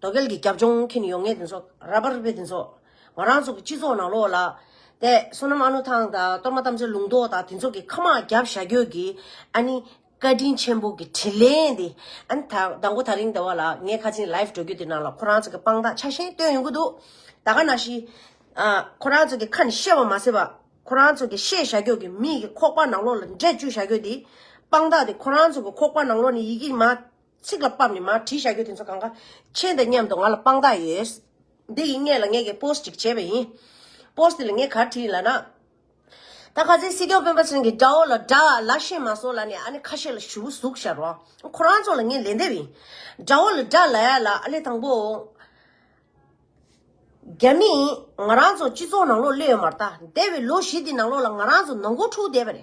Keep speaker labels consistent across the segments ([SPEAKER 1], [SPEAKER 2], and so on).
[SPEAKER 1] རྡོ་སྐལ་གྱི་རྒྱབ་ལྗོངས་མཁྱེན་ཡོང་ངེས་དེ་ཚོ་ར་བར་བེད་དེ་ཚོ་ང་རང་ཚོ་གི་སྤྱི་ཚོགས་ནང་ལོགས་ལ། དེ་བསོད་ནམས་ཨ་ནུ་ཐང་དང་གཏོར་མ་རྟ་མཆོད་ལུང་རྟོགས་དང་དེ་ཚོ་གི་ཁ་དམག་རྒྱབ་བཞག་རྒྱུ་གི་ཨ་ནི་བཀའ་དྲིན་ཆེན་པོ་གི་དྲིན་ལན་དེ་ཨ་ནི་ད་དགོ་ད་རིང་དེ་བ་ལ་ངའི་ཁ་ཆེམས live འགྲོ་རྒྱུ་དེ་ནང་ལ་ཁོ་རང་ཚོ་གི་དཔང་རྟགས་ཆགས་ཤིང་བཏོན་ཡོང་གི་འདུག་ད་ག་ན་ཞིག་ཁོ་རང་ཚོ་གི་ཁ་ནས་བཤད་བ་མ་ཟད་པ་ཁོ་རང་ཚོ་གི་བཤད་བཞག་རྒྱུ་གི་མིག་གི་ཁོག་པ་ནང་ལོགས་ལ་འབྲས་བཅུ་བཞག་རྒྱུ་དེ་དཔང་རྟགས་དེ་ཁོ་རང་ཚོ་གི་ཁོག་པ་ནང་ལོགས་ནས་ཡི་གེ་མ་ཚིག་ལ་སྤམ་ནི་མ་བྲིས་བཞག་རྒྱུ་དེ་ཚོ་གང་ག། ཁྱེད་དང་མཉམ་དུ་ང་ལ་དཔང་རྟགས་ཡོད། འདི་ཡིན་ངེས་ལ་ངས་ཀྱི post ཅིག་བྱས་པ་ཡིན། post འདི་ལ་ངས་གར་བྲིས་ཡིན་ལགས་ན། ད་ག་ཚད་སྲིད་སྐྱོང་སྤེན་པ་ཚང་གི་དགྲ་བོ་ལ་དགྲ་ལ་ཤེས་མ་སོང་ལ་ནི་ཨ་ནི་ཁ་ཤས་ལ་ཞུ་བོ་ཟུག་ཤར་བ། ཁོ་རང་ཚོ་ལ་ངས་ལན་འདེབས་ཡིན། དགྲ་བོ་ལ་དགྲ་ལ་ཡ་ལ་ཨ་ལས་དང་པོ། རྒྱ་མི་ཡིན་ང་རང་ཚོ་སྤྱི་ཚོགས་ནང་ལོག་སླེ་ཡོད་མ་རྟ་འདས་པའི་ལོ་བཞི་འདི་ནང་ལོག་ལ་ང་རང་ཚོ་ནང་མགོ་འཁྲུགས་བསྡད་པ་རེད།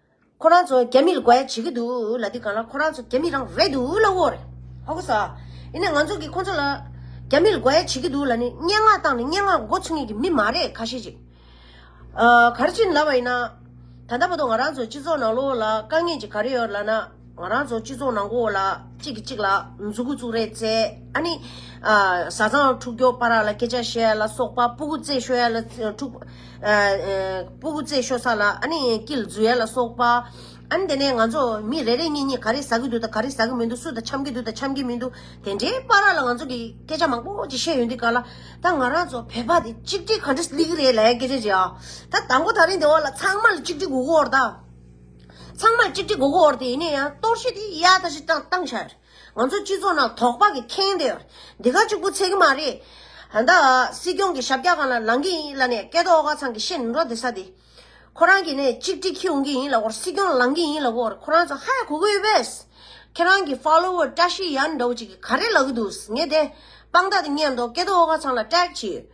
[SPEAKER 1] ཁོ་རང་ཚོ་རྒྱ་མི་ལ་དགའ་ཡ་བྱེད་ཀྱི་འདུག་ལ་འདི་གང་ལ་ཁོ་རང་ཚོ་རྒྱ་མི་རང་རེད་འདུག་ལ་འོ་རེད་ཧ་གོ་ས། ཡིན་ནའི་ང་ཚོ་གིས་ཁོ་ཚོ་ལ་རྒྱ་མི་ལ་དགའ་ཡ་བྱེད་ཀྱི་འདུག་ལ་ནི་སྙན་ངག་བཏང་ནས་སྙན་ངག་མགོ་ཚུགས་ངེས་ཀྱི་མི་མ་རེད་ཁ་ཤས་ཅིག་གར་ཕྱིན་ལབ་པ་ཡིན་ན། ད་ལྟ་བར་དུ་ང་རང་ཚོའི་སྤྱི་ཚོགས་ནང་ལོགས་ལ་དཀའ་ངལ་ཅིག་ག་རེ་ཡོད་ལ་ན། ང་རང་ཚོ་སྤྱི་ཚོགས་ནང་གོ་ལ་གཅིག་གིས་གཅིག་ལ་མཛུ་གུ་བཙུགས་རེས་བྱས། ཨ་ནི། བཟའ་ཚང་འཁྲུག་རྒྱོག་པ་ར་ལ་སྐད་ཆ་བཤད་ཡ་ལ་སོགས་པ་སྤུ་གུ་རྩེད་ཤོ་ཡ་ལ་འཁྲུག། སྤུ་གུ་རྩེད་ཤོ་ས་ལ་ཨ་ནི་ཀིལ་འཛུལ་ཡ་ལ་སོགས་པ། ཨ་ནི་དེ་ནས་ང་ཚོ་མི་རེ་རེ་གཉིས་གཉིས་ག་རེ་ཟ་གི་འདུག་དང་ག་རེ་ཟ་གི་མི་འདུག་སུ་དང་འཆམ་གི་འདུག་དང་འཆམ་གི་མི་འདུག་དེ་འདྲའི་པ་ར་ལ་ང་ཚོ་གིས་སྐད་ཆ་མང་པོ་ཅིག་བཤད་ཡོང་དུས་ག་ལ་ད་ང་རང་ཚོ་བོད་པ་དེ་གཅིག་སྒྲིལ་ག་འདྲ་ལི་གི་རེད་ལ་ཡ་སྐད་ཆ་འཇལ་ཡ། ད་དང་པོ་ད་རིང་དེ་འོག་ལ་ཚང་མ་ལ་གཅིག་སྒྲིལ་དགོས་གོ་ར་ད། ཚང་མར་གཅིག་གཅིག་གོ་གོ་འོར་དེ་ཡིན་ན་ཡང་གཏོར་བཤིག་དེ་ཡག་ད་ཤི་ཏང་ཤ་རེད་ང་ཚོ་སྤྱི་ཚོགས་ནང་དོག་པ་གི་ཁེངས་དེ་འདི་ག་གཅིག་པོ་ཚེ་གི་མ་རེད་ད་སྲིད་སྐྱོང་གི་ཞབས་རྒྱ་གང་ལ་ལང་གི་ཡིན་ལ་ནས་སྐལ་དོག་ཨོ་ག་ཚང་གི་ཤེས་ནི་འགྲོ་དེ་ས་དེ་ཁོ་རང་གི་ནས་གཅིག་དྲི་ཁྱི་འོང་གི་ཡིན་ལ་འོར་སྲིད་སྐྱོང་ལང་གི་ཡིན་ལ་འོར་ཁོ་རང་ཚོ་ཧ་ཡ་གོ་གོ་ཡོད་པས་ཁྱེད་རང་གི follower བཀྲ་ཤིས་ཡ་ནི་འདྲ་བོ་གཅིག་གི་ག་རེ་ལ་གི་འདུག་ངས་དེ་དཔང་རྟགས་དེ་རྙེད་འདོག་སྐལ་དོག་ཨོ་ག་ཚང་ལ་བཀྲ་ཤིས་ཡོད་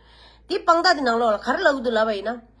[SPEAKER 1] དེ་དཔང་རྟགས་དེ་ནང་ལོགས་ལ་ག་རེ་ལ་གི་འདུག་ལབ་པ་ཡིན་ན།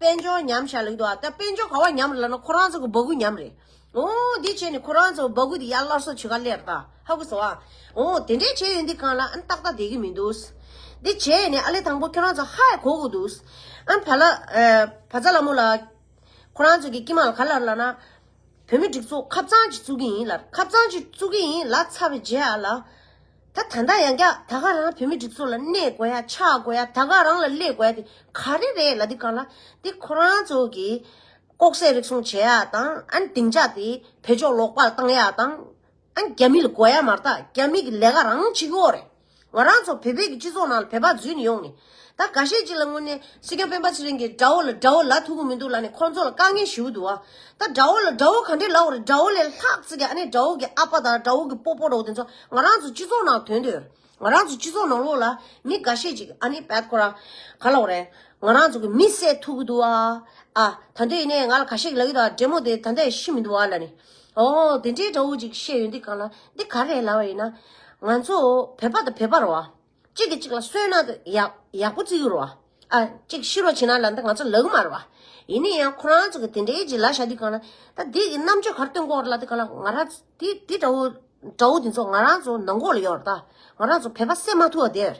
[SPEAKER 1] དཔལ་འབྱོར་ཉམས་བཞག་ལེགས་འདུག་ཨ། ད་དཔལ་འབྱོར་ག་བ་ཉམས་རེད་ལབ་ན་ཁོ་རང་ཚོ་གི་འབག་གུ་ཉམས་རེད། འོ། འདི་བྱས་ནས་ཁོ་རང་ཚོ་འབག་གུ་དེ་ཡར་སླར་གསོ་བྱེད་ག་ལེར་ལྟ། ཧ་གོ་སོང་ཨ། འོ། དེ་འདྲས་བྱས་ཡོད་འདི་གང་ལ་ཨང་ཏག་ཏག་བསྡད་གི་མི་འདུག། འདི་བྱས་ནས་ཨ་ལས་དང་པོ་ཁྱོད་རང་ཚོ་ཧའེ་གོ་གི་འདུག། ཨང་བྷ་ལ། བྷ་ཛ་ལ་མོ་ལ། ཁོ་རང་ཚོ་གི་སྐྱིད་མ་ལ་ག་ལར་ལབ་ན། བོད་མི་སྒྲིག་འཛུགས་ཁབ་གཙང་གཅིག་བཙུགས་གི་ཡིན་ལར་ཁབ་གཙང་གཅིག་བཙུགས་གི་ཡིན་ལ་ཚ་བའི་རྗེས་ཨ་ལ། ད་ད་ལྟ་ཡང་བསྐྱར་ད་ག་རང་བོད་མི་སྒྲིག་འཛུགས་ལ་གནས་དགོས་ཡ་ཆགས་དགོས་ཡ་ད་ག་རང་ལ་སླེབས་དགོས་ཡ་དེ་ག་རེ་རེད་ལ་དེ་ག་ལ་དེ་ཁོ་རང་ཚོ་གི་ལྐོག་ཟས་རིགས་སོང་བྱེད་ཡ་དང་ཨ་ནི་དེང་ཆགས་དེ་བོད་ཕྱོགས་ལོག་པར་བཏང་ཡ་དང་ཨ་ནི་རྒྱ་མི་ལ་དགོས་ཡ་མ་རྟགས་རྒྱ་མི་གི་ལས་ཀ་རང་བྱེད་ཀྱི་འོག་རེད་ང་རང་ཚོ་བོད་པའི་གི་སྤྱི་ཚོགས་ནང་ལ་བོད་པ་རྫུན་ནི་ཡོང་ནི་ད་ག་ཤེད་ཅིག་ལ་དངོས་གནས་སྲིད་སྐྱོང་སྤེན་པ་ཚེ་རིང་གིས་དགྲ་བོ་ལ་དགྲ་བོ་ལ་ཐུག་གི་མི་འདུག་ལ་ནི་ཁོང་ཚོ་ལ་དཀའ་ངལ་ཞིའུ་འདུག་ཨ། ད་དགྲ་བོ་ལ་དགྲ་བོ་ག་འདྲའི་ལ་བར་དགྲ་བོ་ལས་ལྷག་ཙི་གི་ཨ་ནེ་དགྲ་བོ་གི་ཨ་ཕ་དང་དགྲ་བོ་གི་སྤོ་སྤོ་རོགས་དེ་ཚོ་ང་རང་ཚོ་སྤྱི་ཚོགས་ནང་དོན་དུ་ང་རང་ཚོ་སྤྱི་ཚོགས་ནང་ལོགས་ལ་མི་ག་ཤེད་ཅིག་ཨ་ནི་བད་ཁོ་ར་ག་ལ་བ་རེད་ང་རང་ཚོ་གི་མི་བསད་ཐུག་གི་འདུག་ཨ། ཨ། ད་འདི་ཡིན་ནའི་ང་ལ་ག་ཤེད་ཀྱི་ལ་ཡོད་ད་འདྲེ་མོ་དེ་ད་འདྲ་ཡི་ཤི་མི་འདུག་ཨ་ལ་ནི། ཨོ། དེ་འདྲའི་དགྲ་བོ་ཅིག་བཤད་ཡོད་འདི་གང་ལ་འདི་ག་རེད་ལ་བ་ཡིན་ན། ང་ཚོ་བོད་པ་དང་བོད་པ་རོ་ཨ། གཅིག་གིས་གཅིག་ལ་གསོད་ན་འདི་ཡག་པོ་བརྩི་གི་རོ། གཅིག་ཤི་རོ་བྱེད་ན་ལ་འདི་ང་ཚོ་ལག་དམར་བ། ཡིན་ནི་ཡང་ཁོ་རང་ཚོ་གི་དེ་འདྲའི་གྱི་ལ་ཤ་འདི་གང་ན། ད་འདི་གི་རྣམ་དཔྱོད་གར་སྟོན་སྐོར་ལ་འདི་གང་ལ་ང་རང་འདི་འདི་འདྲ་བོ་འདྲ་བོ་འདི་ཚོ་ང་རང་ཚོ་ནང་འགོག་ལ་ཡོད་ར་ད། ང་རང་ཚོ་བོད་པ་སེམས་མ་ཐུ་བ་དེར།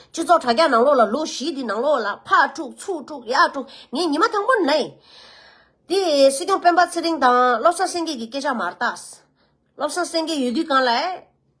[SPEAKER 1] སྤྱི་ཚོགས་དྲ་རྒྱ་ནང་ལོགས་ལ་ལོ་བཞི་འདི་ནང་ལོགས་ལ་ཕག་དཀྲུག་ཚུགས་དཀྲུག་ཡག་དཀྲུག་ངས་ཉི་མ་དང་པོ་ནས། འདི་སྲིད་སྐྱོང་སྤེན་པ་ཚེ་རིང་དང་བློ་བཟང་སེང་གེ་གི་སྐད་ཆ་མར་བཏགས། བློ་བཟང་སེང་གེ་ཡོད་དུས་གང་ལ།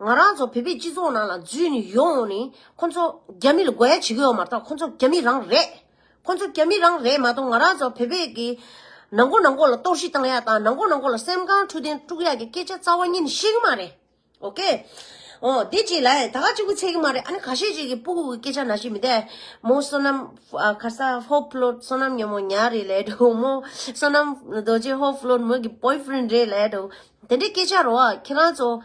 [SPEAKER 1] ང་རང་ཚོ་བོད་པའི་སྤྱི་ཚོགས་ནང་ལ་རྫུན་ཡོང་ཡོང་ནས་ཁོ་ཚོ་རྒྱ་མི་ལ་རྒོལ་ཡ་བྱེད་ཀྱི་ཡོད་མ་གཏོགས་ཁོ་ཚོ་རྒྱ་མི་རང་རེད། ཁོ་ཚོ་རྒྱ་མི་རང་རེད་མ་གཏོགས་ང་རང་ཚོ་བོད་པའི་གི་ནང་མགོ་ནང་མགོ་ལ་གཏོར་བཤིག་བཏང་ཡ་དང་ནང་མགོ་ནང་མགོ་ལ་སེམས་ཁམས་འཕྲོད་བསྟེན་དཀྲུག་ཡ་གི་སྐད་ཆ་རྩ་བ་ཉིད་ནས་བཤད་ཀྱི་མ་རེད། ཨོ་ཀེ། ཨོ་དེ་ཅིག་ལ་ད་ག་ཅིག་པུ་ཚད་ཀྱི་མ་རེད་ཨ་ནི་ག་ཤེད་ཅིག་གི་སྤུ་གུ་གི་སྐད་ཆ་ན་ཤི་མི་དད། མོ་བསོད་ནམས་ཁ་ས་ཧོ་ཕློ་བསོད་ནམས་ཉོན་མོ་ཉག་རེད་ལད་དོ་མོ་བསོད་ནམས་རྡོ་རྗེ་ཧོ་ཕློ་མོ་གི Boyfriend རེད་ལད་དོ་དེ་འདྲའི་སྐད་ཆ་རོ་ཁྱེད་རང་ཚོ།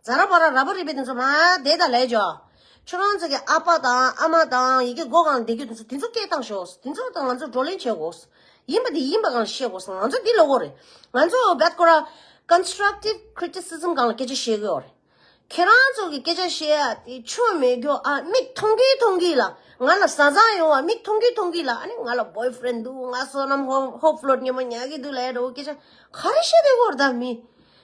[SPEAKER 1] རྫ་ར་བ་ར་ར་བ་རི་བའི་དེ་ཚོ་མ་དེ་ད་ལས་ཇོ། ཁྱོད་རང་ཚོ་གི་ཨ་ཕ་དང་ཨ་མ་དང་ཡི་གེ་སྒོ་གང་ལ་འདེད་རྒྱུ་དེ་ཚོ་དེ་ཚོ་སྐད་བཏང་ཤོག་དེ་ཚོ་དང་ང་ཚོ་བགྲོ་གླེང་བྱེད་དགོས། ཡིན་པ་དེ་ཡིན་པ་གང་ལ་བཤད་དགོས་ང་ཚོ་འདི་ལོ་གོ་རེད། ང་ཚོ་བད་ཀོ་ར། Constructive Criticism། གང་ལ་སྐད་ཆ་བཤད་དགོས་རེད། ཁྱེད་རང་ཚོ་གི་སྐད་ཆ་བཤད་ཡ་དེ་ཆོ་མེད་རྒྱོ་ཨ་མིག་མཐོང་གི་མཐོང་གི་ལ། ང་ལ་བཟའ་ཚང་ཡོང་བ་མིག་མཐོང་གི་མཐོང་གི་ལ་ཨ་ནི་ང་ལ Boyfriend འདུག་ང་བསོད་ནམས་ཧོ་ཧོ་ཕློད་ཉེ་མོ་ཉག་གི་འདུག་ལས་དྲོ་གི་སྐད་ཆ་ག་རེ་བཤད་དགོས་རེད་ད་མི།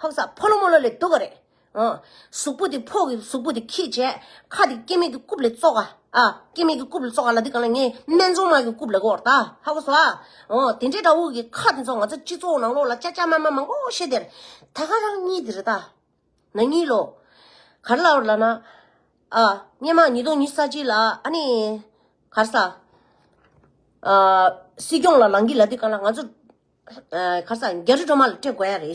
[SPEAKER 1] ཧཱུྃ་ས་ཕོ་ལོ་མོ་ལོ་ལས་སྡུག་ག་རེ། གཟུགས་པོ་དེ་ཕོ་གི་གཟུགས་པོ་དེ་ཁྱི་བྱས། ཁ་དེ་སྐྱེ་མེད་ཀྱི་རྐུབ་ལས་བཙོག་ག། སྐྱེ་མེད་ཀྱི་རྐུབ་ལས་བཙོག་ག་ལ་དེ་གང་ལ་ངའི་སྨན་བཙོང་མ་གི་རྐུབ་ལས་གོ་ད་ཧཱུྃ་ས། དེ་འདྲའི་དགྲ་བོ་གི་ཁ་དེ་ཚོ་ང་ཚོ་སྤྱི་ཚོགས་ནང་ལོགས་ལ་ཅག་ཅག་མ་མ་མང་པོ་བཤད་དེར། ད་ག་རང་གཉིས་དེ་རེ་ད། ན་གཉིས་ལོ། ག་རེ་ལ་བར་ལ་ན། སྙེ་མ་ཉིས་སྟོང་ཉི་ས་གཅིག་ལ་ཨ་ནི། ག་རེ་ས། སྲིད་སྐྱོང་ལ་ལང་གི་ལ་དེ་གང་ལ་ང་ཚོ། ཁར་ས་རྒྱ་རི་སྒྲོལ་མ་ལ་སྤྲད་དགོས་ཡ་རེད།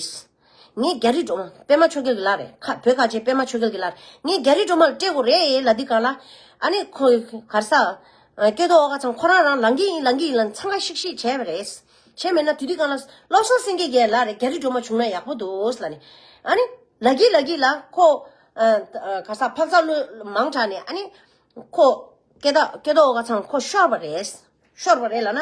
[SPEAKER 1] ངས་རྒྱ་རི་སྒྲོལ་པད་མ་ཆོས་རྒྱལ་གྱི་ལ་རེད་ཁ་བོད་ཁ་ཆེ་པད་མ་ཆོས་རྒྱལ་གྱི་ལ་རེད་ངས་རྒྱ་རི་སྒྲོལ་མ་ལ་སྤྲད་དགོས་རེད་ལ་འདི་ག་ལ། ཨ་ནི་ཁོ་གར་ས། སྐྱོ་དོ་ཨོ་ག་ཚང་ཁོ་རང་རང་ལང་གི་ཡིན་ལང་གི་ཡིན་ལ་འཚང་ཁ་ཤིག་ཤིག་བྱས་པ་རེད། བྱས་མེད་ན་དུས་འདི་ག་ལ་བློ་བཟང་སེང་གེ་གྱི་ལ་རེད་རྒྱ་རི་སྒྲོལ་མ་བྱུང་ན་ཡག་པོ་འདུག་ལ་ནི། ཨ་ནི། ལ་གི་ལ་གི་ལ་ཁོ། གར་ས་འཕག་འཚག་བློས་མང་དྲགས་ནས་ཨ་ནི། ཁོ། སྐྱོ་དོ་ཨོ་ག་ཚང་ཁོ་ཤོར་བ་རེད། ཤོར་བ་རེད་ལ་ན།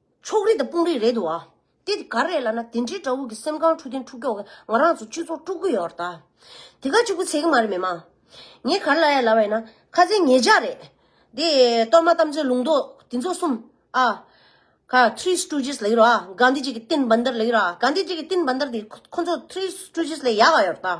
[SPEAKER 1] ཕྱོགས་རིས་དང་དཔུང་རིས་རེད་འདུག་ཨ། དེ་ག་རེད་ལ་ན་དེ་འདྲའི་དགྲ་བོ་གི་སེམས་ཁང་འཁྲུག་བདེན་འཁྲུག་སྐྱོ་གི་ང་རང་ཚོ་སྤྱི་ཚོགས་དཀྲུག་གི་ཡོད་རེད་ད། དེ་ག་ཅིག་པུ་ཚེ་གི་མ་རེད་མི་མ། ངས་ག་རེ་ལབ་ཡ་ལབ་ཡིན་ན་ཁ་ཚེ་ངེད་ཅག་རེད། དེ་གཏོར་མ་གཏམ་རྩོད་ལུང་རྟོགས་དེ་ཚོ་གསུམ་ཨ། ག Three Stooges ལགས་ཡོད་རེད་ཨ། གྷན་དྷི་ཇི་གི་སྟེན་བན་དར་ལགས་ཡོད་རེད་ཨ། གྷན་དྷི་ཇི་གི་སྟེན་བན་དར་དེ་ཁོ་ཚོ Three Stooges ལས་ཡག་ག་ཡོད་རེད་ད།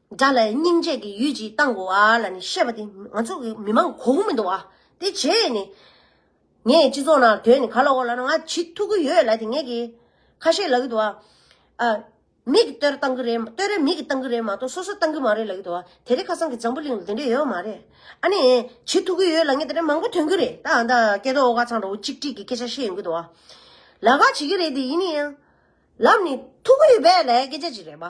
[SPEAKER 1] དགྲ་ལ་སྙིང་རྗེ་གི་ཡུལ་གྱིས་བཏང་གོ་བ་ལ་ནི་ཤེས་པ་དེ་ང་ཚོ་གི་མི་མང་གོ་གི་མི་འདུག་བ་དེ་བྱས་ནི། ངས་སྤྱི་ཚོགས་ནང་དོན་ནི་ག་ལ་འོག་ལ་ང་བྱིས་ཐུག་གི་ཡོད་ལ་དེ་ངས་གི་ཁ་ཤས་ལབ་གི་འདུག་བ། ཨ། མིག་གི་ལྟོས་ར་བཏང་གི་རེད་ལྟོས་ར་མིག་གི་བཏང་གི་རེད་མ་གཏོགས་སོ་སོ་བཏང་གི་མ་རེད་ལབ་གི་འདུག་བ་དེ་རིང་ཁ་སང་གི་འཛམ་བུ་གླིང་ལ་དེ་འདྲས་ཡོད་མ་རེད། ཨ་ནི། བྱིས་ཐུག་གི་ཡོད་ལ་ངས་དེ་འདྲས་མང་པོ་ཐོན་གི་རེད་ད་ཨ་མདའ་སྐད་ཐོག་ཨོ་ཁ་ཚང་འདྲ་བོ་གཅིག་སྒྲིག་གི་སྐད་ཆ་བཤད་ཡོང་གི་འདུག་བ། ལ་ཁ་བྱེད་ཀྱི་རེད་དེ་ཡིན་ནི། ལབ་ནི་ཐུག་གི་ཡོད་པས་ལ་ཡའི་སྐད་ཆ་ཅིག་རེད་བ།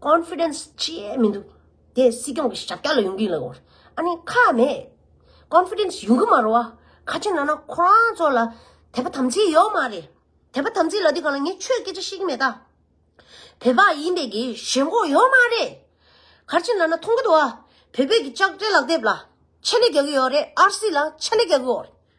[SPEAKER 1] Confidence ཅིའི་མི་འདུག་དེ་སྲིད་སྐྱོང་གི་ཞབས་བཀྱག་ལ་ཡོང་གི་ལགས་འོར་ཨ་ནི་ཁ་མེད། Confidence ཡོང་གི་མ་རོ་ཨ་ཁ་ཆེ་ན་ན་ཁོ་རང་ཚོ་ལ་དད་པ་དམ་ཚིག་ཡོད་མ་རེད་དད་པ་དམ་ཚིག་ལ་དེ་ག་ལ་ངས་ཆོས་སྐད་ཆ་བཤད་ཀྱི་མེད་ད། བོད་པ་ཡིན་པའི་གི་ཞེན་ཁོག་ཡོད་མ་རེད། ཁར་ཆེ་ན་ན་མཐོང་གི་འདུག་ཨ་བོད་པའི་གི་ལྕགས་སྤྲེལ་ལག་དེབ་ལ་ཕྱེ་ནས་རྒྱག་གི་ཡོད་རེད་ཨར་སི་ལ་ཕྱེ་ནས་རྒྱག་གི་འོར་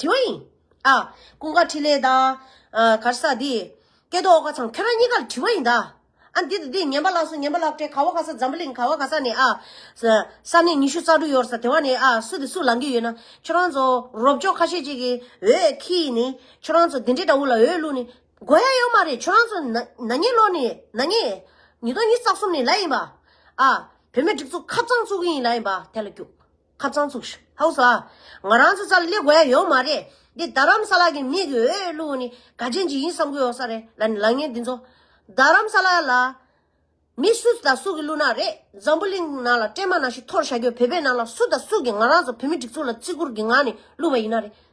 [SPEAKER 1] དེའི་ཨ། ཀུན་དགའ་འཕྲིན་ལས་དང། གར་ས་འདི། སྐལ་རྡོ་ཨོ་ཀ་ཚང་ཁྱོད་རང་གཉིས་ཀར་དྲི་བ་ཡིན་ད། ཨ། འདི་དང་འདི་ངན་པ་ལགས་སོ་ངན་པ་ལགས་ཀྲེ་ག་བ་ག་ས་འཛམ་བུ་གླིང་ག་བ་ག་ས་ནས་ཨ། ས་གནས་ཉི་ཤུ་རྩ་དྲུག་ཡོར་ས་དེ་བ་ནས་ཨ་སུ་དེ་སུ་ལང་གི་ཡོད་ན་ཁྱོད་རང་ཚོ་རོབ་ཅོག་ཁ་ཤས་ཅིག་གིས་འོས་ཁི་ནི་ཁྱོད་རང་ཚོ་དེ་འདྲི་འདྲ་བོ་ལ་འོས་བླུག་ནི་དགོས་ཡ་ཡོད་མ་རེད་ཁྱོད་རང་ཚོ་ན་ཉེ་ལོག་ནི་ན་ཉེ། ཉིས་སྟོང་ཉིས་བརྩ་གསུམ་ནི་ལ་ཡིན་པ། ཨ། བོད་མི་སྒྲིག་འཛུགས་ཁ་བཙང་བཙུགས་གི་ཡིན་ལ་ཡིན་པ་དེ་ལ་རྒྱུགས། ཁ་བཙང་ཚུགས། ཧཱུྃ་ས། ང་རང་ཚོ་ཙར་སླེབས་དགོས་ཡོད་མ་རེད། འདི་རྡ་རམ་ས་ལ་གི་མི་གི་འོས་བླུགས་བ་ནི་ག་རྗེས་མཇིག་ཡིན་བསམ་གི་ཡོད་ས་རེད་ལ་ནི་ལག་ངན་འདི་ཚོ། རྡ་རམ་ས་ལ་ལ། མི་སུ་དང་སུ་གི་བླུགས་ནག་རེད་འཛམ་བུ་གླིང་ནང་ལ་སྤྲེལ་མ་ནང་བཞིན་འཐོར་བཞག་གི་ཡོད་བོད་པའི་ནང་ལ་སུ་དང་སུ་གི་ང་རང་ཚོ་བོད་མི་སྒྲིག་འཛུགས་ལ་བརྩི་བཀུར་གི་ངང་ནས་བླུགས་པ་ཡིན་ནག་རེད་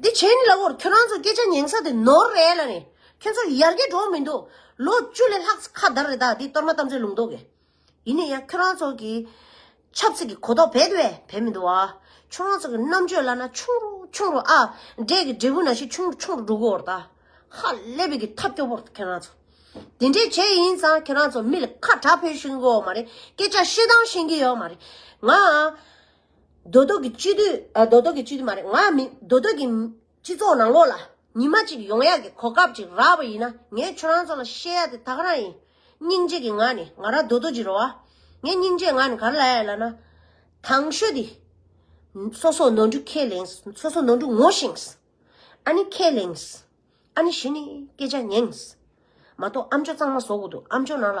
[SPEAKER 1] འདི་བྱས་ནི་ལ་བོར་ཁྱོད་རང་ཚོ་སྐད་ཆ་ཉན་ས་དེ་ནོར་རེད་ལ་ནི་ཁྱོད་ཚོ་ཡར་རྒྱས་འགྲོ་མི་འདུག་ལོ་བཅུ་ལས་ལྷག་ཁ་དར་རེད་ད་འདི་གཏོར་མ་གཏམ་ཚོད་ལུང་རྟོག་གི་ཡིན་ནི་ཡང་ཁྱོད་རང་ཚོ་གི་ཆབ་སྲིད་ཀྱི་གོ་རྟོག་བེད་བེད་བེད་མི་འདུག་བ་ཁྱོད་རང་ཚོ་གི་རྣམ་དཔྱོད་བླ་ན་ཆུང་རུ་ཆུང་རུ་ཨ་འབྲས་ཀྱི་འབྲས་བུ་ན་ཞིག་ཆུང་རུ་ཆུང་རུ་འགྲོ་གི་འོར་ད་ཧ་ལས་བེད་ཀྱི་ཐབས་སྐྱོ་བོར་ཁྱོད་རང་ཚོ་འདི་འདྲས་བྱས་ཡིན་ཙང་ཁྱོད་རང་ཚོ་མི་ལ་ཁ་གྲགས་ཕོད་ཤིང་གི་འོ་མ་རེད་སྐད་ཆ་བཤད་སྟངས་ཤེས་ཀྱི་ཡོད་མ་རེད་ང། རྡོ་རྡོ་གི་སྤྱི་འཐུས་རྡོ་རྡོ་གི་སྤྱི་འཐུས་མ་རེད་ང་མིན་རྡོ་རྡོ་གི། སྤྱི་ཚོགས་ནང་ལོགས་ལ་ཉི་མ་གཅིག་ཡོང་ཡག་གི་གོ་སྐབས་ཅིག་རག་པ་ཡིན་ན་ངས་ཁྱོད་རང་ཚོ་ལ་བཤད་ཡག་དེ་ཐག་རང་ཡིན། སྙིང་རྗེ་གི་ངང་ནས་ང་རང་རྡོ་རྡོ་གྱི་རོ་ཨ། ངས་སྙིང་རྗེ་ངང་ནས་ག་རེ་ལ་ཡ་ལ་ན། དང་ཤོས་དེ། སོ་སོ་ནོར་འཁྲུལ་ཁས་ལེངས་སོ་སོ་ནོར་འཁྲུལ་ངོ་ཤེས། ཨ་ནི་ཁས་ལེངས། ཨ་ནི་གཞི་ནས་སྐད་ཆ་ཉན། མ་གཏོགས་ཨ་མཆོག་གཙང་མ་བཟོ་དགོས་འདུག་ཨ་མཆོག་ནང་ལ།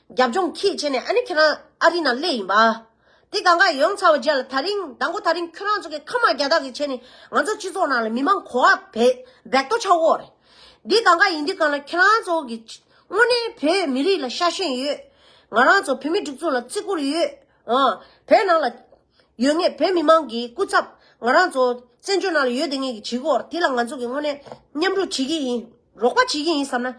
[SPEAKER 1] རྒྱབ་ལྗོངས་ཁྱིས་བྱས་ནས་ཨ་ནི་ཁྱེད་རང་ཨ་རི་ནང་སླེབས་ཡིན་པ། དེ་གང་གཱས་ཡོང་ཚར་བ་བརྒྱད་ལ་ད་རིང་ད་མགོ་ད་རིང་ཁྱོད་རང་ཚོ་གི་ཁ་དམག་རྒྱ་དག་གིས་བྱས་ནས་ང་ཚོ་སྤྱི་ཚོགས་ནང་ལ་མི་མང་གོ་བ་བེད་བེད་གཏོ་ཆགས་འོག་རེད། འདི་གང་གཱ་ཡིན་འདི་གང་ལ་ཁྱེད་རང་ཚོ་གི་དངོས་གནས་བོད་མི་རིགས་ལ་ཤ་ཞེན་ཡོད། ང་རང་ཚོ་བོད་མི་སྒྲིག་འཛུགས་ལ་བརྩི་བཀུར་ཡོད། བོད་ནང་ལ་ཡོད་ངེས་བོད་མི་མང་གི་སྐུ་ཚབ་ང་རང་ཚོ་བཙན་བྱོལ་ནང་ལ་ཡོད་དེ་ངེས་ཀྱི་བྱེད་དགོས་དེ་ལ་ང་ཚོ་གི་དངོས་གནས་མཉམ་རུབ་བྱེད་ཀྱི་ཡིན་རོགས་པ་བྱེད་ཀྱི་ཡིན་བསམ་ན།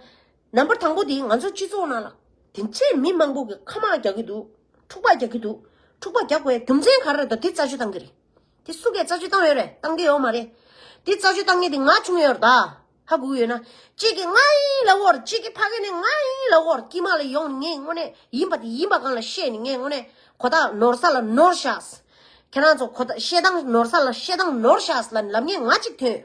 [SPEAKER 1] ནམ་པར་དང་པོ་དེ་ང་ཚོའི་སྤྱི་ཚོགས་ནང་ལ། དེ་འཕྲེད་མི་མང་པོ་གི་ཁ་དམག་རྒྱག་གི་འདུག་འཁྲུག་པ་རྒྱག་གི་འདུག་འཁྲུག་པ་རྒྱག་པའི་རྒྱུ་མཚན་ག་རེ་རེད་དོ་དེ་རྩ་གཅོད་གཏང་གི་རེད། དེ་སུ་གས་རྩ་གཅོད་གཏང་ཡོད་རེད་གཏང་གི་ཡོད་མ་རེད། དེ་རྩ་གཅོད་གཏང་ངེས་དེ་ང་བྱུང་ཡོད་རེད་ད། ཧ་གོ་གི་ཡོད་ན། གཅིག་གི་ང་ཡིན་ལ་བོར་གཅིག་གི་ཕ་གི་ནི་ང་ཡིན་ལ་བོར་དཀྱིལ་མ་ལ་ཡོང་ནི་ངས་དངོས་གནས་ཡིན་པ་དེ་ཡིན་པ་གང་ལ་བཤད་ནི་ངས་དངོས་གནས་གོ་ད་ནོར་ས་ལ་ནོར་བཞགས། ཁྱེད་རང་ཚོ་གོ་ད་བཤད་སྟངས་ནོར་ས་ལ་བཤད་སྟངས་ནོར་བཞགས་ལ་ནི་ལབ་ངེས་ང་གཅིག་ཐོན་ཡོད།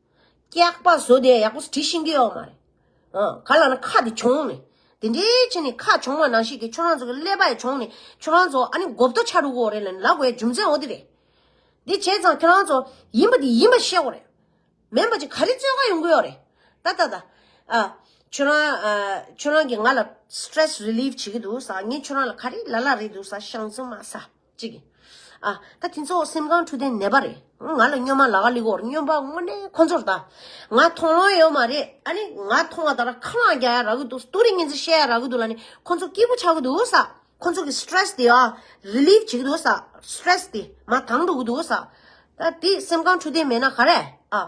[SPEAKER 1] སྐྱག་པ་བཟོ་དེ་ཡག་པོ་དྲི་ཤིང་གི་ཡོག་མ་རེད། ག་ལ་ན་ཁ་དེ་བྱུང་ནས། དེ་འདྲའི་ཆེ་ནས་ཁ་བྱུང་བ་ནང་བཞིན་གྱི་ཁྱོད་རང་ཚོ་གི་ཀླད་པ་ཡི་བྱུང་ནས་ཁྱོད་རང་ཚོ་ཨ་ནི་མགོ་བརྡོ་ཆག་རུག་གོ་རེད་ལ་ནི་ལ་གོའི་རྒྱུ་མཚན་འོ་དེ་རེད། དེ་བྱས་ཙང་ཁྱོད་རང་ཚོ་ཡིན་པ་དེ་ཡིན་པ་ཤེས་གོ་རེད། མེན་པ་ཅིག་ག་རེ་བརྩོད་ག་ཡོང་གི་ཡོག་རེད། ད་ད་ད། ཁྱོད་རང་ཁྱོད་རང་གི་ང་ལ stress relief བྱེད་ཀྱི་འདུག་ས་ངས་ཁྱོད་རང་ལ་ག་རེ་ལ་ལ་རེད་འདུག་ས་ཤངས་ཙི་མ་ས། ཅིག། ཨ། ད་དེ་ཚོ་སེམས་ཁམས་འཁྲུག་ལྡན་ནད་པ་རེད། ང་ལ་སྨྱོན་མ་ལ་ག་ལི་གོར་སྨྱོན་པ་དངོས་གནས་ཁོ་ཚོར་ད། ང་མཐོང་ལོང་ཡོད་མ་རེད་ཨ་ནི་ང་མཐོང་བ་ལྟར་ཁ་མང་རྒྱག་ཡ་རག་གི་འདུག་སྟུ་རི་ངན་ཚིག་བཤད་ཡ་རག་གི་འདུག་ལ་ནི་ཁོ་ཚོ་སྐྱིད་པོ་ཆགས་ཀྱི་འདུག་ས། ཁོ་ཚོ་གི stress དེ་ཨ། relieve བྱེད་ཀྱི་འདུག་ས། stress དེ་མ་དྭངས་འགྲོ་གི་འདུག་ས། ད་དེ་སེམས་ཁམས་འཁྲུག་ལྡན་མེད་ན་ག་རེ་ཨ།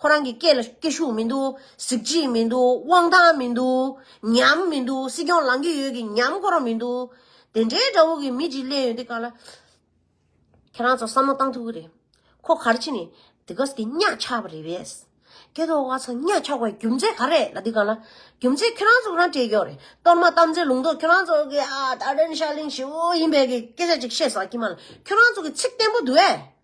[SPEAKER 1] ཁོ་རང་གི་སྐད་ལ་སྐད་ཤུགས་མི་འདུག་གཟི་བརྗིད་མི་འདུག་དབང་ཐང་མི་འདུག་ཉམས་མི་འདུག་སྲིད་སྐྱོང་ལང་གི་ཡོད་གི་ཉམས་ཁོ་རང་མི་འདུག་དེ་འདྲའི་དགྲ་བོ་གི་མི་གཅིག་གླན་ཡོད་དེ་ག་ལ། ཁྱེད་རང་ཚོ་བསམ་བློ་གཏང་ཐུབ་ཀྱི་རེད། ཁོ་གར་ཕྱིན་ནས་དེ་ག་ཟེ་གི་གཉའ་ཆག་པ་རེད་བས། སྐལ་རྡོ་བ་ཚང་གཉའ་ཆག་པའི་རྒྱུ་མཚན་ག་རེད་ལ་དེ་ག་ལ། རྒྱུ་མཚན་ཁྱེད་རང་ཚོ་རང་སྤྲད་ཀྱོག་རེད་གཏོར་མ་བཏབ་ཚེ་ལུང་རྟོགས་ཁྱེད་རང་ཚོ་གི་ཨ་ད་རན་ཤ་གླིང་བྱེའུ་ཡིན་བས་གི་སྐད་ཆ་ཅིག་བཤད་ཟ་གི་མ་ལ་ཁྱེད་རང་ཚོ་གི་ཚིག་བརྟན་པོ་འདུག་བས།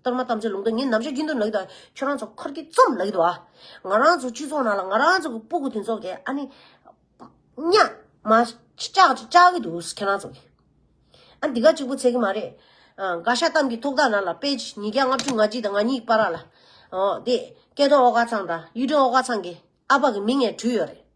[SPEAKER 1] གཏོར་མ་བཏབ་ཚེ་ལུང་རྟོགས་ཉིད་ནམ་ཞག་རྒྱུན་དུ་ལགས་དང། ཁྱོད་རང་ཚོ་འཁོར་གྱི་རྩོམ་ལགས་དུ་ཨ། ང་རང་ཚོ་སྤྱི་ཚོགས་ནང་ལ་ང་རང་ཚོ་གི་སྤུ་གུ་དེ་ཚོ་གི་ཨ་ནི། རྙ། མ། བཅག་ཅིག་བཅག་གི་འདུག་ཁྱེད་རང་ཚོ་གི། ཨ་འདི་ག་གཅིག་པུ་ཚད་གི་མ་རེད། འགའ་ཤ་གཏམ་གྱི་ཐུགས་ཐག་ནང་ལ་དཔེ། ཉིས་བརྒྱ་ལྔ་བཅུ་ང་གཅིག་དང་ང་གཉིས་པ་ར་ལ། འོ་དེ། སྐལ་རྡོར་ཨོ་དཀར་ཚང་དང་གཡུ་སྒྲོན་ཨོ་དཀར་ཚང་གི་ཨ་ཕ་གི་མིང་ངས་བྲུས་ཡོད་རེད།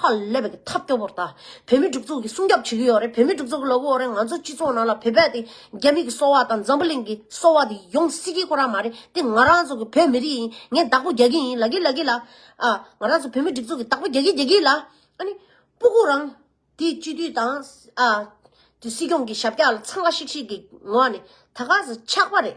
[SPEAKER 1] ཧ་ལས་པའི་ཐབས་སྐྱོ་པོར་བལྟ། བོད་མི་གྲུབ་ཚོགས་ཀྱིས་སྲུང་སྐྱོབ་བྱེད་ཀྱི་ཡོད་རེད་བོད་མི་གྲུབ་ཚོགས་ཀྱི་ལོ་གོ་རེ་ང་ཚོ་སྤྱི་ཚོགས་ནང་ལ་བོད་པའི་དེ་རྒྱ་མི་གི་སོ་བ་དང་འཛམ་བུ་གླིང་གི་སོ་བ་དེ་ཡོང་སྲིད་ཀྱི་ཁོ་རང་མ་རེད་དེ་ང་རང་ཚོ་གི་བོད་མི་རིགས་ཡིན་ངས་བདག་པོ་རྒྱག་གི་ཡིན་ལ་གི་ལ་གི་ལ། ཨ། ང་རང་ཚོ་བོད་མི་གྲུབ་ཚོགས་ཀྱི་བདག་པོ་རྒྱག་གི་རྒྱག་གི་ལ། ཨ་ནི། པུ་གུ་རང། དེ་སྤྱི་འཐུས་དང། ཨ། དེ་སྲིད་སྐྱོང་གི་ཞབས་རྒྱག་ལ་འཚང་ཁ་ཤིག་ཤིག་གི་ངོ་ཨ་ནི། ད་ག་ཟེ་ཆགས་པ་རེད།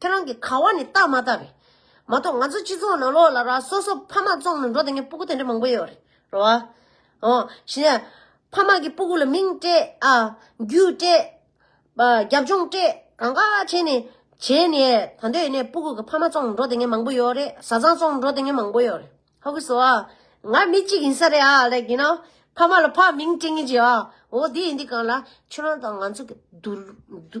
[SPEAKER 1] ཁྱེད་རང་གི་ཁ་བ་ནི་རྟགས་མ་རྟགས་རེད་མ་གཏོགས་ང་ཚོ་སྤྱི་ཚོགས་ནང་ལོགས་ལ་ར་སོ་སོ་ཕ་མ་བཙོང་ནས་འགྲོ་དེ་ངས་སྤུ་གུ་དེ་འདྲ་མང་པོ་ཡོད་རེད་རོ། ཨོ་ཞེ་ན། ཕ་མ་གི་སྤུ་གུ་ལ་མིང་སྤྲད་ཨ། རྒྱུ་སྤྲད། རྒྱབ་ལྗོངས་སྤྲད་གང་ག་བྱས་ནས། བྱས་ནས་ད་འདོད་ཡེ་ནས་སྤུ་གུ་གི་ཕ་མ་བཙོང་ནས་འགྲོ་དེ་ངས་མང་པོ་ཡོད་རེད་བཟའ་ཚང་བཙོང་ནས་འགྲོ་དེ་ངས་མང་པོ་ཡོད་རེད་ཧ་གི་སོ་ཨ། ང་མི་གཅིག་ཡིན་ས་རེད་ཨ་ལེགས་ཀྱི་ན། ཕ་མ་ལ་ཕ་མིང་སྤྲད་ངེས་ཅི་ཨ། ཨོ་དེ་ཡིན་དུས་གང་ལ། ཁྱོད་རང་དང་ང་ཚོ་གི།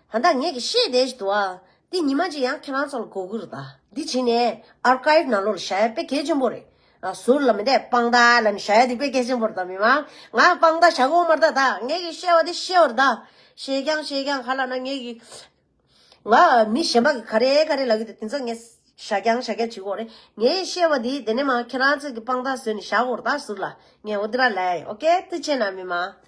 [SPEAKER 1] ད་ད་ངེད་ཀྱི་ཤེས་བདེ་ཞིག་འདུག་ཨ། འདི་ཉི་མ་གཅིག་ཡང་ཁྱེད་རང་ཚོ་ལ་སྒོ་ཁུག་རེད་ད། འདི་བྱིན་ནས Archive ནང་ལོག་ལ་བཞག་ཡ་དཔེ་གལ་ཆེན་པོ་རེད། ཟུར་ལ་མི་བསྡད་དཔང་རྟགས་ལ་ནི་བཞག་ཡ་འདི་དཔེ་གལ་ཆེན་པོ་རེད་ད་མི་དམངས་ང་དཔང་རྟགས་བཞག་གོ་མ་རྟགས་ད་ངེད་ཀྱི་ཤེས་བ་འདི་ཤེས་བར་ད། ཤེས་ཀྱང་ཤེས་ཀྱང་ག་ལ་ན་ངེད་ཀྱི། ང་མི་གཞན་པ་གི་ག་རེ་ག་རེ་ལབ་ཀྱི་འདུག་དེ་ཚོ་ངས་བཞག་ཀྱང་བཞག་ཀྱང་བྱེད་གོ་རེད། ངའི་ཤེས་བ་འདི་དེ་ནས་མ་ཁྱེད་རང་ཚོ་གི་དཔང་རྟགས་བཟོས་ནས་བཞག་གོ་རེད་ད་ཟུར་ལ། ངས་འོ་དེ་ར་ལས་ཨོ་ཀེ་ཏི་ཆེ་ན་མི་དམངས།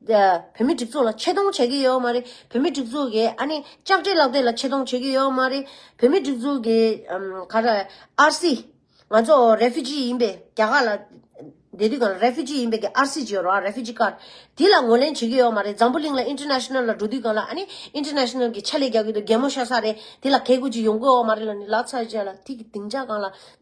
[SPEAKER 1] བོད་མི་སྒྲིག་འཛུགས་ལ་ཆེ་མཐོང་བྱེད་ཀྱི་ཡོད་མ་རེད། བོད་མི་སྒྲིག་འཛུགས་ཀྱི་ཨ་ནི་ལྕགས་སྤྲེལ་ལག་དེབ་ལ་ཆེ་མཐོང་བྱེད་ཀྱི་ཡོད་མ་རེད། བོད་མི་སྒྲིག་འཛུགས་ཀྱི་ག་རེ་ཨར་སི། ང་ཚོ Refugee ཡིན་པས་རྒྱ་གར་ལ་བསྡད་དུས་གང Refugee ཡིན་པས་ཀྱི་ཨར་སི་བརྗོད་རོགས Refugee Card། དེ་ལ་ངོས་ལེན་བྱེད་ཀྱི་ཡོད་མ་རེད། འཛམ་བུ་གླིང་ལ International ལ་འགྲོ་དུས་གང་ལ་ཨ་ནི International གྱི་ཕྱག་ལས་རྒྱག་གི་འདུག་རྒན་མོ་ཤ་ས་རེད་དེ་ལ་གས་གུས་ཀྱི་ཡོང་གི་འོག་མ་རེད་ལ་ནི་ལགས་ཚར་བཅད་ལ་ཐིག་གི་སྡིངས་ཆ་གང་ལ།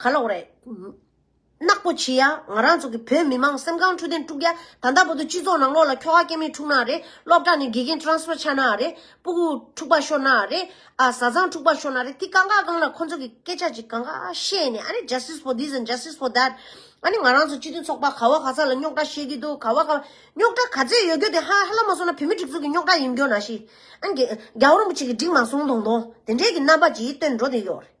[SPEAKER 1] ག་ལོག་རེད། ནག་པོ་བྱི་ཡ་ང་རང་ཚོ་གི་བོད་མི་མང་སེམས་ཁང་འཁྲུག་དེང་དཀྲུག་ཡ་ད་ལྟ་བོ་དོ་སྤྱི་ཚོགས་ནང་ལོག་ལ་ཁྱོ་ག་སྐྱེ་མེད་འཁྲུག་ན་རེད་སློབ་གྲ་ནས་དགེ་རྒན Transfer ཆག་ན་རེད་སྤུ་གུ་འཁྲུག་པ་ཤོར་ན་རེད་ཨ་བཟའ་ཚང་འཁྲུག་པ་ཤོར་ན་རེད་དེ་གང་ག་གང་ལ་ཁོ་ཚོ་གི་སྐད་ཆ་གཅིག་གང་ག་བཤད་ནས་ཨ་ནི Justice for this and Justice for that ཨ་ནི་ང་རང་ཚོ་སྤྱི་མཐུན་ཚོགས་པ་ག་བ་ག་ས་ལ་རྙོག་གྲ་བཤད་གི་འདུག་ག་བ་ག་རྙོག་གྲ་ག་ཚད་ཡོད་རྒྱུ་དེ་ཧ་ལ་མ་སོང་ན་བུད་མེད་སྒྲིག་འཛུགས་ཀྱི་རྙོག་གྲ་ཡིན་རྒྱུ་ན་ཤི་ཨ་རྒྱ་བོ་རིན་པོ་ཆེ་གི་སྒྲིག་མ་སོང་དོང་དོང་དེ་འདྲས་ཀྱི་རྣམ་པ་གྱིས་སྟོན་འགྲོ་དེ་ཡོད་རེད།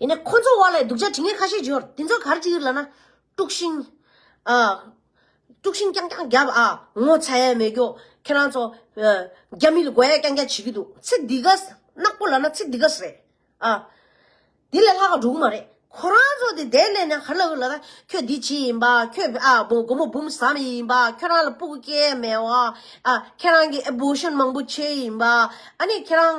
[SPEAKER 1] ཡིན་ནས་ཁོ་ཚོ་བར་ལས་སྡུག་ཅག་དྲི་ངན་ཁ་ཤས་འབྱོར་དེ་ཚོ་གར་གྱི་ཡུལ་ལ་ན་དཀྲུག་ཤིང། དཀྲུག་ཤིང་རྐྱང་རྐྱང་རྒྱབ་ཨ། ངོ་ཚ་ཡས་མེད་ཀྱོ། ཁྱེད་རང་ཚོ། རྒྱ་མི་ལ་དགོད་ཡས་རྐྱང་རྐྱང་བྱེད་ཀྱི་འདུག་ཚེ་འདི་ག། ནག་པོ་ལ་ན་ཚེ་འདི་ག་རེད་ཨ། དེ་ལས་ལྷག་འགྲོ་གི་མ་རེད། ཁོ་རང་ཚོ་དེ་བསྡད་ནས་ན་གར་ལ་ཡོད་ལ་ན་ཁྱོད་འདི་བྱེད་ཡིན་པ་ཁྱོད་ཨ་སྒོར་མོ་འབུམ་བཟའ་མི་ཡིན་པ་ཁྱོད་རང་ལ་སྤུ་གུ་སྐྱེ་ཡས་མེད་ཨ། ཁྱེད་རང་གི་ཨེ་བོ་ཤོན་མང་པོ་བྱེད་ཡིན་པ་ཨ་ནི་ཁྱེད་རང།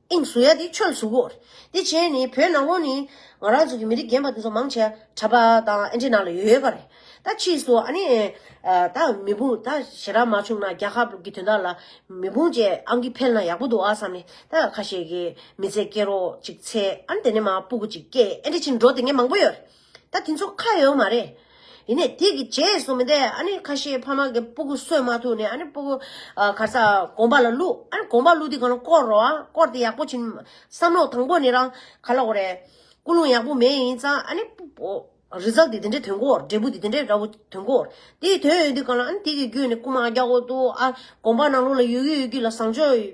[SPEAKER 1] ཨིང་གཟུགས་ཡ་དེ་ཆོས་གཟུགས་བོར། དེ་བྱས་ནས་བོད་ནང་ཁོང་ནི། ང་རང་ཚོ་གི་མི་རིགས་རྒན་པ་དེ་ཚོ་མང་ཆེ་བ་གྲ་པ་དང་ཨེ་འདྲེ་ནང་ལ་ཡོད་པ་རེད། ད་ཕྱིས་སུ་ཨ་ནེ། ད་མི་འབུངས་ད་ཞེ་དྲག་མ་བྱུང་ན་རྒྱ་ཁབ་ཀྱི་དོན་དག་ལ་མི་འབུངས་བཅས་ཨང་ཀི་འཕེལ་ན་ཡག་པོ་འདུག་ཨ་བསམ་ནས་ད་ཁ་ཤས་ཀྱི་མི་ཚེ་སྐྱེལ་རོགས་ཅིག་ཚེ་ཨ་ནེ་དེ་ནས་མ་སྤུ་གུ་ཅིག་སྐྱེས་ཨེ་འདྲེ་ཕྱིར་འགྲོ་དེ་ངས་མང་པོ་ཡོད། ད་དེ་ཚོ་ཁ་ཡོད་མ་རེད། ཡིན་ནས་དེ་གི་རྗེས་སུ་མི་འདས་ཨ་ནི་ཁ་ཤས་ཕ་མ་གི་སྤུ་གུ་གསོད་མ་ཐུབ་ནས་ཨ་ནི་སྤུ་གུ་གར་ས་དགོན་པ་ལ་བླུག་ཨ་ནི་དགོན་པ་བླུག་དེ་གང་ལ་བསྐོར་རོགས་ཨ་བསྐོར་དེ་ཡག་པོ་བྱིན། བསམ་བློ་དང་པོ་ནི་རང་ག་ལ་གོ་རེ། སྐུ་རླུང་ཡག་པོ་མེད་ཡིན་ཙང་ཨ་ནི། Result དེ་དེ་འདྲའི་དོན་གོ་འབྲས་བུ་དེ་དེ་འདྲའི་འདྲ་བོ་དོན་གོ། དེ་དོན་ཡོད་དུས་གང་ལ་ཨ་ནི་དེ་གི་རྒྱུད་ནས་སྐུ་མ་རྒྱ་གོ་ཏུ་ཨ་དགོན་པ་ནང་ལུགས་ལ་ཡོད་རྒྱུ་ཡོད་རྒྱུ་ལ་བཟང་ཕྱོགས།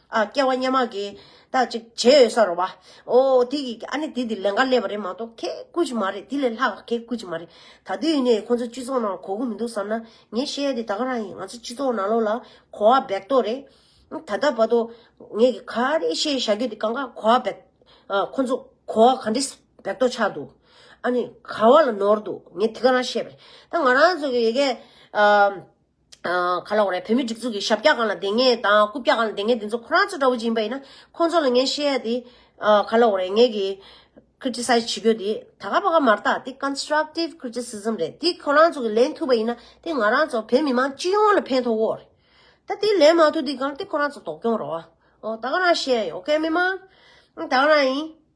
[SPEAKER 1] ཨ་སྐྱེ་བ་སྙན་མ་གི། ད་ཅིག་བྱེད་ཡོད་ས་རོ་བ། ཨོ་དེ་གི་ཨ་ནི་དེ་དེ་ལན་འགའ་སླེབས་པ་རེད་མ་གཏོགས་ཁྱེད་སྐུ་ཅིག་མ་རེད་དེ་ལས་ལྷག་ཁྱེད་སྐུ་ཅིག་མ་རེད། ད་དུས་ཡིན་ནའི་ཁོང་ཚོ་སྤྱི་ཚོགས་ནང་གོ་གི་མི་འདུག་བསམ་ན་ངས་བཤད་ཡ་དེ་ད་ག་རང་ཡིན་ང་ཚོ་སྤྱི་ཚོགས་ནང་ལོག་ལ་གོ་བ་འབེག་ཏོ་རེད། ད་ལྟ་བར་དུ་ངས་གི་ག་རེ་བཤད་བཞག་རྒྱུ་དེ་ག་འགའ་གོ་བ་འབེག། ཁོང་ཚོ་གོ་བ་ག་འདྲི་འབེག་ཏོ་ཆགས་འདུག་ཨ་ནི་ག་བ་ལ་ནོར་འདུག་ངས་དེ་ག་རང་བཤད་པ་རེད། ད་ང་རང་ཚོ་གི་ཡི་གེ། ག་ལ་འོང་རེད་བོད་མིའི་སྒྲིག་འཛུགས་ཀྱི་ཞབས་བཀྱག་གང་ལ་དེ་ངེས་དང་རྐུབ་བཀྱག་གང་ལ་དེ་ངེས་དེ་ཚོ་ཁོ་རང་ཚོ་འདྲ་བོ་ཅིག་ཡིན་པ་ཡིན་ན་ཁོང་ཚོ་ལ་ངས་བཤད་ཡ་དེ་ག་ལ་འོང་རེད་ངས་ཀྱི། Criticize། བྱེད་དགོས་དེ་ད་ག་བ་ག་མ་རྟགས་དེ Constructive Criticism རེད་དེ་ཁོ་རང་ཚོ་གི་ལེན་ཐུབ་པ་ཡིན་ན་དེ་ང་རང་ཚོ་བོད་མི་མང་སྤྱི་ཡོངས་ལ་ཕན་ཐོག་འོག་རེད་ད་དེ་ལེན་མ་ཐུབ་དེ་གང་དེ་ཁོ་རང་ཚོ་དོགས་སྐྱོང་རོགས་ཨོ་ད་ག་རང་བཤད་ཡ་ཡིན་ཨོ་ཁེ་མི་མང་ད་ག་རང་ཡིན།